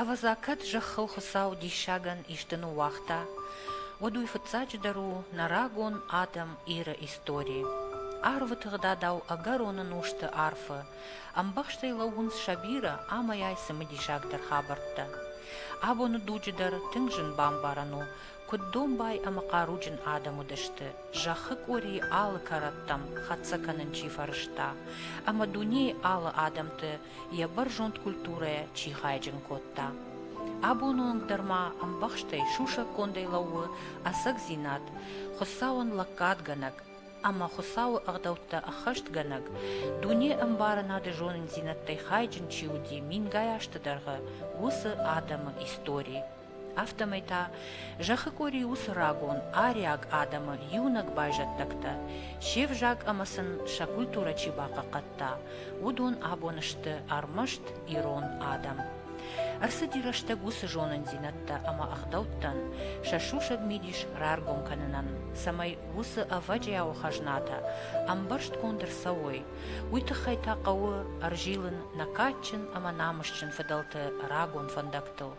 Ӕвӕдза, кӕд зӕххыл Хуыцау диссагӕн исты ныууагъта, уӕд уый фыццаджыдӕр у нӕ рагон адӕм Иры истори. Арвы тыгъдадау ӕгӕроны нозты арфы ӕмбӕхстӕй лӕууынц сӕ бирӕ амӕйай цымыдисагдӕр хабӕрттӕ. Абоны дуджы дӕр тынг зын бамбарӕн у, куыд домбай ӕмӕ хъаруджын адӕм уыдысты, зӕххы къорийы алы кӕрӕттӕм хӕццӕ кӕнын чи фӕрӕзта, ӕмӕ дунейы алы адӕмты йӕ бӕрзонд культурӕ чи хайджын кодта. Абоны онг дӕр ма ӕмбӕхстӕй сусӕггондӕй лӕууы ӕцӕгдзинад Хуыцауӕн лӕггадгӕнӕг ӕмӕ Хуыцауы ӕгъдӕуттӕ ӕххӕстгӕнӕг, дуне ӕмбарынады зонындзинӕдтӕй хайджын чи уыди мингай азты дӕргъы, уыцы адӕмы истори. Афтӕмӕй та зӕххы къуыри уыцы рагон ариаг адӕмы иунӕг байзӕддӕгтӕ, се взаг ӕмӕ сын сӕ культурӕ чи бахъахъхъӕдта, уыдон абон сты ӕрмӕст ирон адӕм. Ӕрцыди рӕстӕг уыцы зонындзинӕдтӕ ӕмӕ ӕгъдӕуттӕн сӕ сусӕг мидис раргом кӕнынӕн, цӕмӕй уыцы ӕвӕджиауы хӕзнатӕ ӕмбӕрстгонд ӕрцӕуой, уый тыххӕй та хъӕуы ӕрзилын нӕ кадджын ӕмӕ намысджын фыдӕлты рагон фӕндӕгтӕ. хӕдзӕрттыл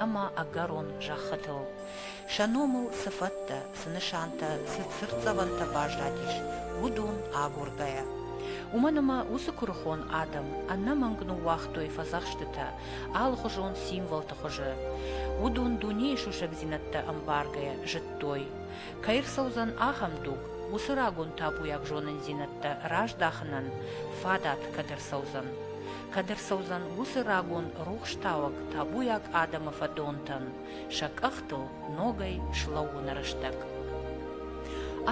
ӕмӕ ӕгӕрон зӕххытыл сӕ номыл цы фӕдтӕ, цы нысантӕ, цы цыртдзӕвӕнтӕ баззадис, уыдон агургӕйӕ. Уымӕн ӕмӕ уыцы куырыхон адӕм ӕнӕмӕнг ныууагътой фӕдзӕхстытӕ алыхуызон символты хуызы. Уыдон дунейы сусӕгдзинӕдтӕ ӕмбаргӕйӕ зыдтой, кӕй рцӕудзӕн ахӕм дуг, уыцы рагон табуйаг зонындзинӕдтӕ раздахынӕн фадат кӕд ӕрцӕудзӕн. кӕд ӕрцӕудзӕн уыцы рагон рухстауӕг табуйаг адӕмы фӕдонтӕн сӕ къӕхтыл ногӕй слӕууыны рӕстӕг.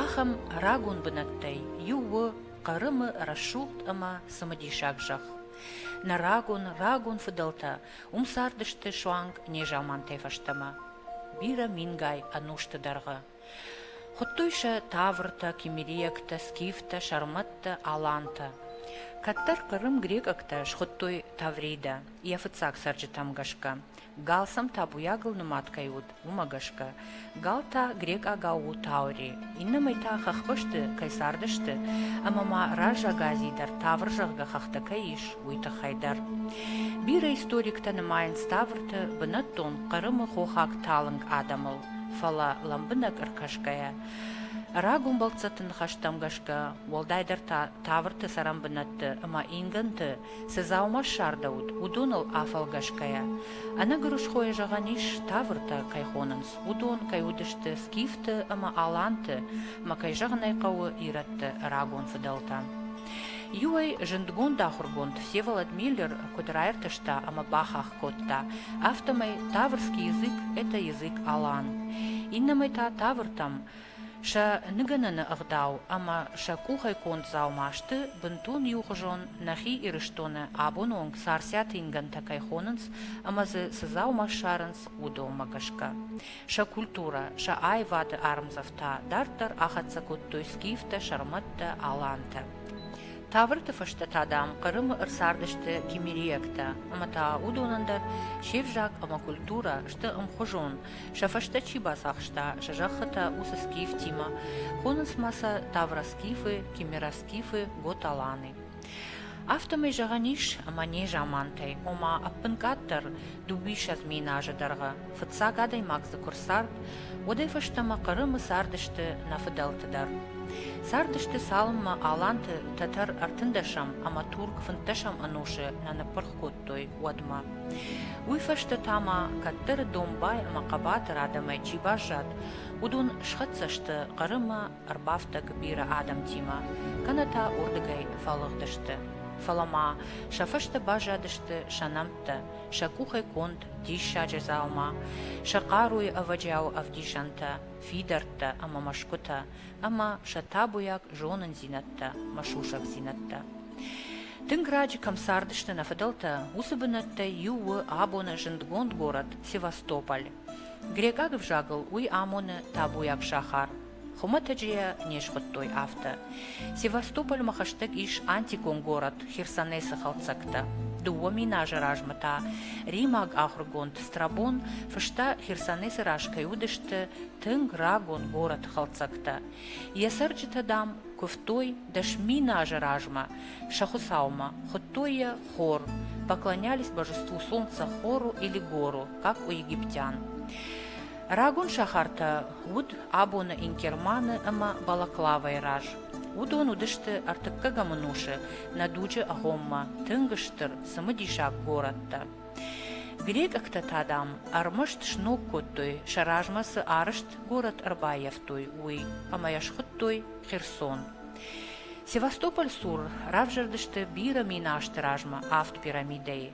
Ахӕм рагон бынӕттӕй иу у Хъырымы рӕсугъд ӕмӕ цымыдисаг зӕхх. Нӕ рагон, рагон фыдӕлтӕ уым цардысты суанг незамантӕй фӕстӕмӕ. Бирӕ мингай ӕнусты дӕргъы Хуыдтой сӕ тавртӕ, кимериӕгтӕ, скифтӕ, сӕрмӕттӕ, алантӕ. Кӕддӕр Хъырым грекъӕгтӕ схуыдтой Тавридӕ, йӕ фыццаг цӕрджытӕм гӕсгӕ. Галсӕм табуйагыл нымад кӕй уыд, уымӕ гӕсгӕ. Гал та грекъагау у таури, иннӕмӕй та хӕхбӕсты кӕй цардысты, ӕмӕ ма раззаг Ази дӕр Тавр зӕгъгӕ хӕхтӕ кӕй ис, уый тыххӕй дӕр. Бирӕ историктӕ нымайынц Таврты бынӕттон Хъырымы хохаг талынг адӕмыл. фӕлӕ, лӕмбынӕг ӕркӕсгӕйӕ, рагон бӕлццӕтты ныхӕстӕм гӕсгӕ, уӕлдайдӕр та тавырты цӕрӕнбынӕтты ӕмӕ ингӕнты цы дзаума ссардӕуыд, уыдоныл афӕлгӕсгӕйӕ, ӕнӕгуырысхойӕ зӕгъӕн ис, тавыртӕ кӕй хонынц, уыдон кӕй уыдысты скифты ӕмӕ аланты ӕмӕ, кӕй зӕгъын ӕй хъӕуы, ирӕтты рагон фыдӕлтӕ. Иуӕй, зындгонд ахуыргонд Всеволод Миллер куыд раиртӕста ӕмӕ бахахх кодта. Афтӕмӕй таврский язык — это язык-алан. Иннӕмӕй та тавртӕм сӕ ныгӕныны ӕгъдау ӕмӕ сӕ къухӕй конд дзаума сты бынтон иухуызон, нӕхи Ирыстоны абоны онг царциаты ингӕнтӕ кӕй хонынц ӕмӕ дзы цы дзаума ссарынц, уыдонмӕ гӕсгӕ. Сӕ культурӕ, сӕ аивады ӕрмдзӕфтӕ дарддӕр ахӕццӕ кодтой скифтӕ, сӕрмӕттӕ, алантӕ. Тάβырты фӕстӕ та, дам, Хъырымы ӕрцардысты кимериӕгтӕ, ӕмӕ та уыдонӕн дӕр се взаг ӕмӕ культурӕ сты ӕмхуызон, сӕ фӕстӕ чи бацахста сӕ зӕххытӕ, уыцы скифтимӕ. Хонынц ма сӕ тавроскифы, кимероскифы, готаланы. Афтӕмӕй зӕгъӕн ис, ӕмӕ не замантӕй, ома ӕппынкъаддӕр дыууиссӕдз мин азы дӕргъы, Фыццаг адӕймаг дзы куы рцард, уӕдӕй фӕстӕмӕ Хъырымы цардысты нӕ фыдӕлты дӕр. Цардысты цалынмӕ аланты тӕтӕр ӕртындӕсӕм ӕмӕ турк фынддӕсӕм ӕнусы нӕ ныппырх кодтой, уӕдмӕ. Уый фӕстӕ та ма кӕддӕры домбай ӕмӕ хъӕбатыр адӕмӕй чи баззад, уыдон схӕццӕ сты Хъырымы, ӕрбафтӕг бирӕ адӕмтимӕ, кӕнӕ та уырдыгӕй фӕлыгъдысты. Фӕлӕ ма сӕ фӕстӕ баззадысты сӕ нӕмттӕ, сӕ къухӕй конд диссаджы дзаума, сӕ хъаруйы ӕвӕджиауы ӕвдисӕнтӕ, фидӕрттӕ ӕмӕ мӕсгуытӕ ӕмӕ сӕ табуйаг зонындзинӕдтӕ мӕ сусӕгдзинӕдтӕ. Тынг раджы кӕм цардысты нӕ фыдӕлтӕ, уыцы бынӕттӕй иу у абоны зындгонд город Севастополь. Грекъаг ӕвзагыл уый амоны табуйаг сахар, Хуымӕтӕджы йӕ не схуыдтой афтӕ. Севастопольмӕ хӕстӕг ис антикон город Херсонесы хӕлддзӕгтӕ. Дыууӕ мин азы размӕ та римаг ахуыргонд Страбон фыста, Херсонесы раз кӕй уыдысты тынг рагон город хӕлддзӕгтӕ. Йӕ цӕрджытӕ, дам, куывтой дӕс мин азы размӕ сӕ хуыцаумӕ, хуыдтой йӕ хор, поклонялись божеству солнца хору или гору, как у египтян. Рагон сахартӕ уыд абоны Ингерманы ӕмӕ Балаклавайы раз. Уыдон уыдысты ӕртыккӕгӕм ӕнусы нӕ дуджы агъоммӕ тынг стыр, цымыдисаг горӕттӕ. Грекъӕгтӕ та, дам, ӕрмӕст сног кодтой, сӕ размӕ цы арӕзт горӕт ӕрбаййӕфтой, уый, ӕмӕ йӕ схуыдтой Херсон. Севастополь цур равзӕрдысты бирӕ мин азты размӕ авд пирамидӕйы.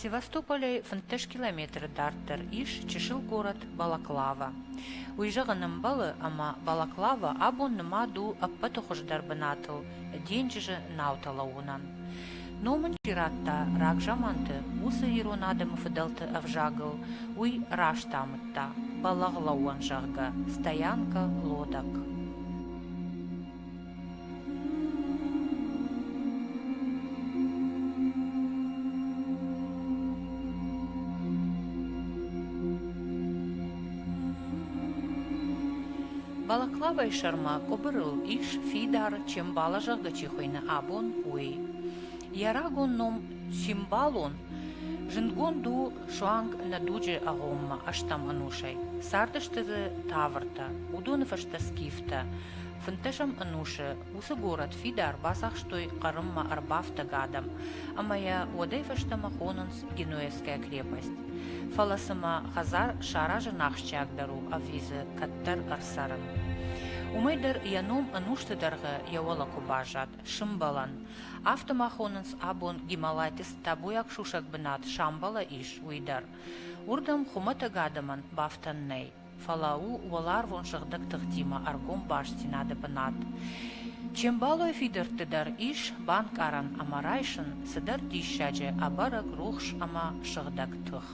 Севастополӕй фынддӕс километры дарддӕр ис чысыл город Балаклава. Уый зӕгъын ӕмбӕлы, ӕмӕ Балаклава абон нымад у ӕппӕты хуыздӕр бынатыл, денджызы наутӕ лӕууынӕн. Ном ын чи радта рагзаманты, уыцы ирон адӕмы фыдӕлты ӕвзагыл уый раст амыдта, бӕлӕгълӕууӕн зӕгъгӕ, стоянка, лодок. Балаклавайы сӕрмӕ къуыбырыл ис фидар, чембала, зӕгъгӕ чи хуыйны, абон, уый. Йӕ рагон ном Симбалон зындгонд у суанг нӕ дуджы агъоммӕ ӕстӕм ӕнусӕй. Цардысты дзы тавыртӕ, уыдоны фӕстӕ скифтӕ, Фынддӕсӕм ӕнусы уыцы горӕт фидар бацахстой Хъырыммӕ ӕрбафтӕг адӕм, ӕмӕ йӕ уӕдӕй фӕстӕмӕ хонынц Генуэзская крепость. Фӕлӕ цымӕ хӕдзар саразын ахсджиагдӕр у ӕви дзы кӕддӕр ӕрцӕрын? Уымӕй дӕр йӕ ном ӕнусты дӕргъы йӕ уӕлӕ куы баззад, Сымбӕлӕн. Афтӕ ма хонынц абон Гималайты цтӕбуйаг сусӕг бынат Самбала ис, уый дӕр. Уырдӕм хуымӕтӕг адӕмӕн бафтӕн нӕй. фӕлӕ у уӕларвон сыгъдӕг тыхтимӕ ӕргом бастдзинады бынат. Че мбӕлой фидӕртты дӕр ис банкъарӕн ӕмӕ райсын цыдӕр диссаджы, ӕбӕрӕг, рухс ӕмӕ сыгъдӕг тых.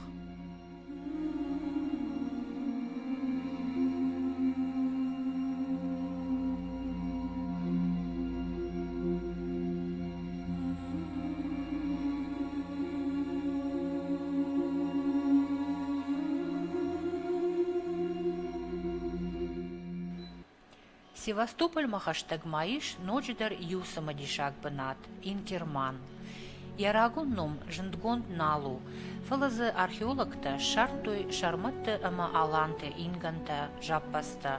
Севастопольмӕ хӕстӕгма ис ноджыдӕр иу цымыдисаг бынат – Инкерман. Йӕ рагон ном зындгонд нал у, фӕлӕ дзы археологтӕ ссардтой сӕрмӕтты ӕмӕ аланты ингӕнтӕ, зӕппӕдзтӕ.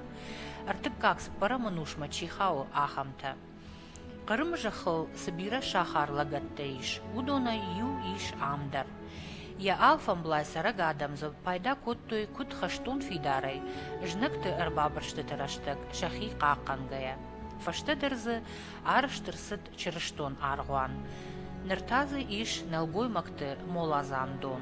Ӕртыккаг цыппӕрӕмы нусмӕ чи хауы, ахӕмтӕ. Хъырымы зӕххыл цы бирӕ сахар лӕгӕттӕ ис, уыдонӕй иу ис ам дӕр. Йӕ алфӕмблай цӕрӕг адӕм дзы пайда кодтой куыд хӕстон фидарӕй, знӕгты ӕрбабырстыты рӕстӕг сӕхи хъахъхъӕнгӕйӕ. Фӕстӕдӕр дзы арызт ӕрцыд чырыстон аргъуан. Ныр та дзы ис нӕлгоймӕгты моладзан дон.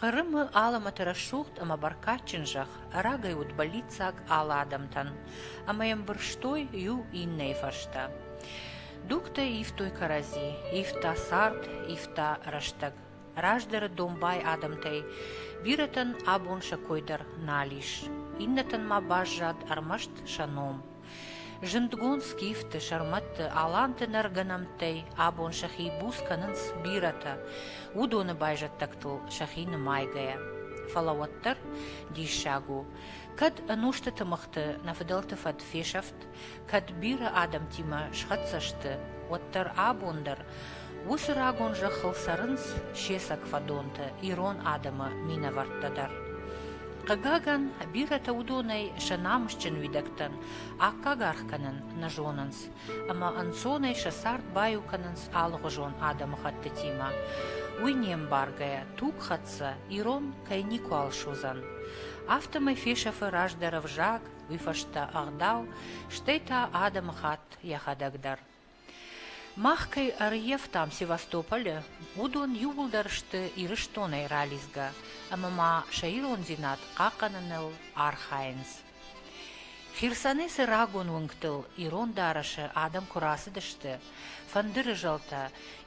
Хъырымы алӕмӕты рӕсугъд ӕмӕ бӕркадджын зӕхх рагӕй уыд бӕллиццаг алы адӕмтӕн, ӕмӕ йӕм бырстой иу иннӕйы фӕстӕ. Дугтӕ ивтой кӕрӕдзи, ивта цард, ивта рӕстӕг. Раздӕры домбай адӕмтӕй бирӕтӕн абон сӕ кой дӕр нал ис, иннӕтӕн ма баззад ӕрмӕст сӕ ном. Зындгонд скифты, сӕрмӕтты, аланты нӕргӕнӕмттӕй абон сӕхи буц кӕнынц бирӕтӕ, уыдоны байзӕддӕгтыл сӕхи нымайгӕйӕ. Фӕлӕ уӕддӕр диссаг у, кӕд ӕнусты тымыгъты нӕ фыдӕлты фӕд фесӕфт, кӕд бирӕ адӕмтимӕ схӕццӕ сты, уӕддӕр абон дӕр Уыцы рагон зӕххыл цӕрынц се цӕг фӕдонтӕ ирон адӕмы минӕвӕрттӕ дӕр. Хъыгагӕн, бирӕтӕ уыдонӕй сӕ намысджын уидӕгтӕн аккаг аргъ кӕнын нӕ зонынц ӕмӕ ӕнцонӕй сӕ цард баиу кӕнынц алыгъуызон адӕмыхӕттытимӕ. Уый не мбаргӕйӕ тугхӕццӕ ирон кӕй никуал суыдзӕн. Афтӕмӕй фесӕфы раздӕр ӕвзаг, уый фӕстӕ ӕгъдау, стӕй та адӕмыхатт йӕхӕдӕг дӕр. Мах кӕй ӕрйӕфтам Севастополы, уыдон иууылдӕр сты Ирыстонӕй ралидзгӕ ӕмӕ ма сӕ ирондзинад хъахъхъӕныныл архайынц. Херсонӕй цы рагон уынгтыл ирон дарӕсы адӕм куы рацыдысты, фӕндыры зӕлтӕ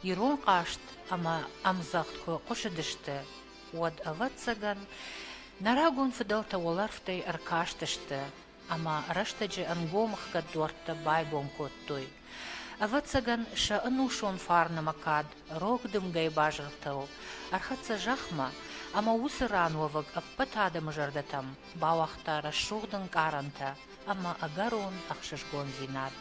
ирон хъазт ӕмӕ ӕмдзӕгъд куы хъуысыдысты, уӕд, ӕвӕццӕгӕн, нӕ рагон фыдӕлтӕ уӕлӕрвтӕй ӕркастысты ӕма рӕстӕджы ӕнгом хгӕд дуӕрттӕ байгон кодтой. Ӕвӕццӕгӕн, сӕ ӕнусон фарнмӕ кад рог дымгӕйы базыртыл ӕрхӕццӕ зӕхмӕ, ӕмӕ уыцы ран уӕвӕг ӕппӕт адӕмы зӕрдӕтӕм бауагъта рӕсугъд ӕнкъарӕнтӕ ӕмӕ ӕгӕрон ӕхсызгондзинад.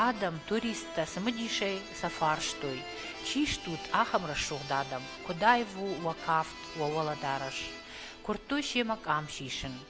Адӕм, туристтӕ цымыдисӕй сӕ фарстой, чи стут, ахӕм рӕсугъд адӕм, куыд аив у уӕ кафт, уӕ уӕлӕдарӕс. Куырдтой семӕ къам сисын.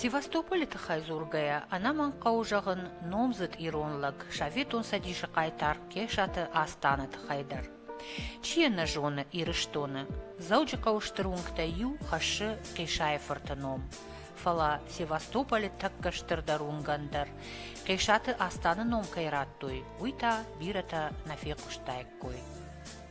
Севастополы тыххӕй дзургӕйӕ, ӕнӕмӕнг хъӕуы зӕгъын номдзыд ирон лӕг Советон Цӕдисы хъайтар Кесаты Астаны тыххӕй дӕр. Чи йӕ нӕ зоны Ирыстоны, Дзӕуджыхъӕуы стыр уынгтӕй иу хӕссы Хъисайы-фырты ном. Фӕлӕ Севастополы тӕккӕ стырдӕр уынгӕн дӕр, Хъисаты Астаны ном кӕй радтой, уый та бирӕтӕ нӕ фехъуыстаиккой.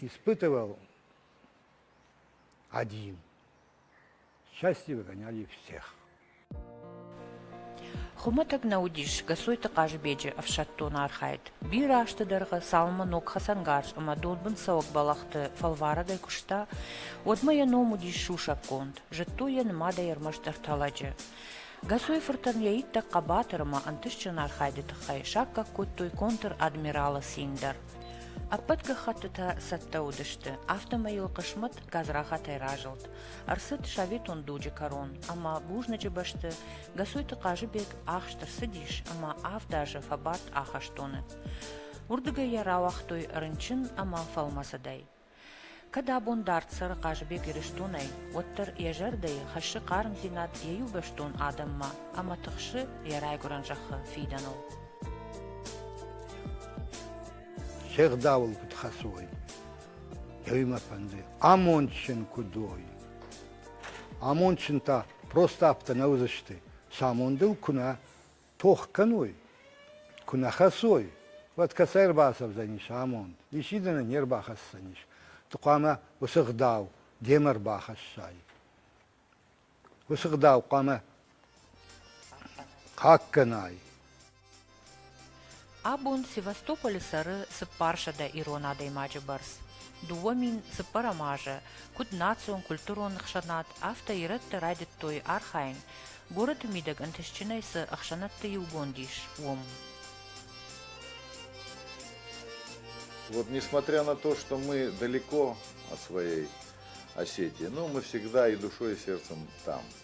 Испытывал один. Счастье выгоняли всех. Хуымӕтӕг нӕ уыдис Гасойты Хъазбеджы ӕфсӕддон архайд. Бирӕ азты дӕргъы цалынмӕ ног хӕцӕнгарз ӕмӕ донбындцӕуӕг бӕлӕхты фӕлварӕгӕй куыста, уӕдмӕ йӕ ном уыдис сусӕггонд, зыдтой йӕ нымадӕй ӕрмӕстдӕр тӕлӕджы. Гасой-фыртӕн йӕ иттӕг хъӕбатыр ӕмӕ ӕнтыстджын архайды тыххӕй саккаг кодтой контр-адмиралы цин дӕр. Ӕппӕт гӕххӕттытӕ цӕттӕ уыдысты, афтӕмӕй йыл хъысмӕт гадзрахатӕй разылд. Ӕрцыд советон дуджы кӕрон, ӕмӕ бузныджы бӕсты Гасойты Хъазыбег ахст ӕрцыдис ӕмӕ авд азы фӕбадт ахӕстоны. Уырдыгӕй йӕ рауагътой рынчын ӕмӕ фӕлмӕцыдӕй. Кӕд абон дард цӕры Хъазыбег Ирыстонӕй, уӕддӕр йӕ зӕрдӕйы хӕссы хъармдзинад йӕ иубӕстон адӕммӕ ӕмӕ тыхсы йӕ райгуырӕн зӕххы фидӕныл. Се гъдауыл куыд хӕцой, йӕ мӕ фӕнды, амондджын куыд уой. Амондджын та просто афтӕ нӕ уыдзысты, сӕ амондыл куы нӕ тох кӕнуй, ку нӕ хӕссой, уӕд кӕцӕй ӕрбацӕудзӕнис амонд, исидӕнӕн не рбахӕсдзӕнис, ды хъуамӕ уыцы гъдау демӕ ӕрбахӕссай. Уыцы гъдау хъуамӕ хъаггӕнай. Абон Севастополы цӕры цыппарсӕдӕ ирон адӕймаджы бӕрц, дыууӕ мин цыппӕрӕм азы, куыд национ-культурон ӕхсӕнад, афтӕ ирӕттӕ райдыдтой архайын, горӕты мидӕг ӕнтыстджынӕй цы ӕхсӕнӕдты иугонд ис, уым. Вот несмотря на то, что мы далеко от своей Осетии, но мы всегда и душой, и сердцем там.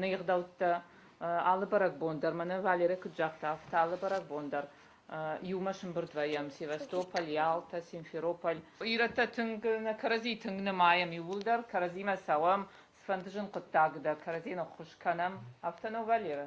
ныгъдӕуттӕ алы бӕрӕгбон дӕр, мӕнӕ Валерӕ куыд загъта, афтӕ алы бӕрӕгбон дӕр иумӕ сымбырд вӕййӕм Севастополь, Ялтӕ, Симферополь. Ирӕттӕ тынг нӕ кӕрӕдзи тынг нымайӕм иууылдӕр, кӕрӕдзимӕ цӕуӕм, цыфӕнды зын хъуыддаг дӕр кӕрӕдзи ныххуыз кӕнӕм, афтӕ нӕу, Валерӕ?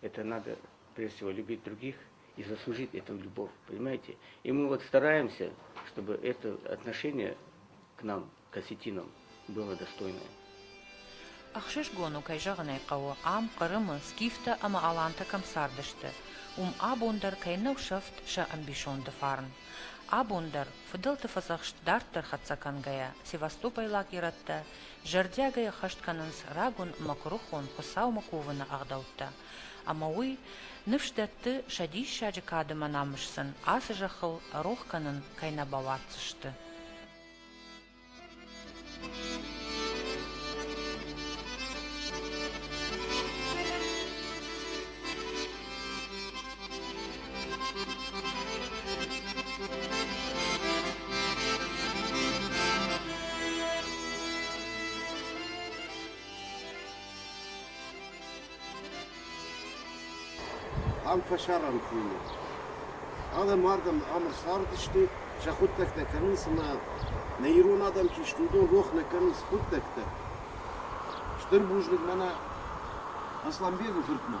Это надо, прежде всего, любить других и заслужить этому любовь, понимаете? И мы вот стараемся, чтобы это отношение к нам, к осетинам, было достойное. Ӕхсызгон у, кӕй зӕгъын ӕй хъӕуы, ам, Хъырымы, скифтӕ ӕмӕ алантӕ кӕм цардысты, уым абон дӕр кӕй нӕу сӕфт сӕ ӕмбисонды фарн. Абон дӕр, фыдӕлты фӕдзӕхст дарддӕр хӕццӕ кӕнгӕйӕ, севастопойлаг ирӕттӕ зӕрдиагӕй ӕххӕст кӕнынц рагон мӕкуырыхон Хуыцаумӕ кувыны ӕгъдӕуттӕ, ӕмӕ уый ныфс дӕтты, сӕ диссаджы кадымӕ намыс сын ацы зӕххыл рох кӕнын кӕй нӕ бауадздзысты. Ам фӕсарӕн хуыйны. Адӕм ардӕм ӕмыр цардысты, сӕ хъуыддӕгтӕ кӕнынц ӕмӕ нӕ ирон адӕм чи сты, уыдон рох нӕ кӕнынц хъуыддӕгтӕ. Стыр бузныг мӕнӕ Аслӕнбегы фыртмӕ.